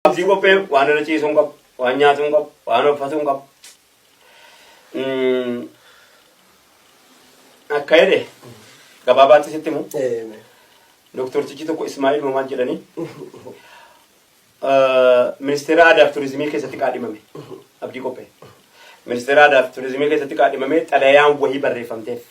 Abdii qophee waan irra ciisuu hin qabu, waan nyaatuu hin qabu, waan uffatuu hin qabu. Mm, Akka jedhe gabaabaatti sitti himu doktortichi tokko Ismaa'il Mamaan jedhanii eh, ministeera aadaa fi turizimii keessatti qaadhimame abdii qophee. Ministeera aadaa fi turizimii keessatti qaadhimamee xalayaan wahii barreeffamteef.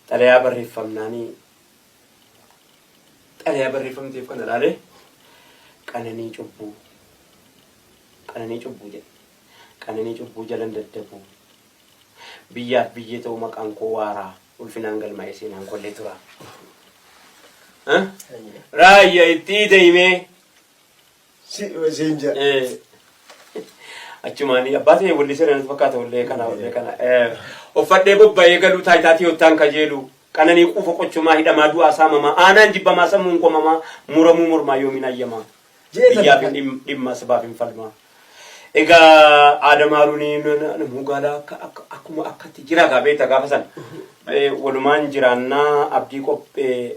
Xalayaa barreeffamnaanii xalayaa barreeffamni ta'eef kana ilaalee qananii cubbuu qananii cubbuu jedhe qananii cubbuu jalan daddabu biyyaaf biyyee ta'uu maqaan koo waaraa ulfinaan galmaa'ee seenaan kollee tura. Raayyaa itti deemee. si dhume siin jedha. Eh, achumaanii abbaa ta'e wallisee nanas fakkaata wallee kana wallee kana Eh, uffadhee bobba'ee galuu taayitaa tiyoottaan kajeelu qananii quufa qochumaa hidhamaa du'aa saamamaa aanaan jibbamaa sammuun qomamaa muramuu mormaa yoomiin ayyamaa Jeeta biyyaaf hin fakkaata. dhim- dhimma sabaaf hin falmaa egaa aadam haaruuniin namuu gaalaa akka akka- akkuma akkatti jira gaa beekta gaafa sana Eh, walumaan jiraannaa abdii qophee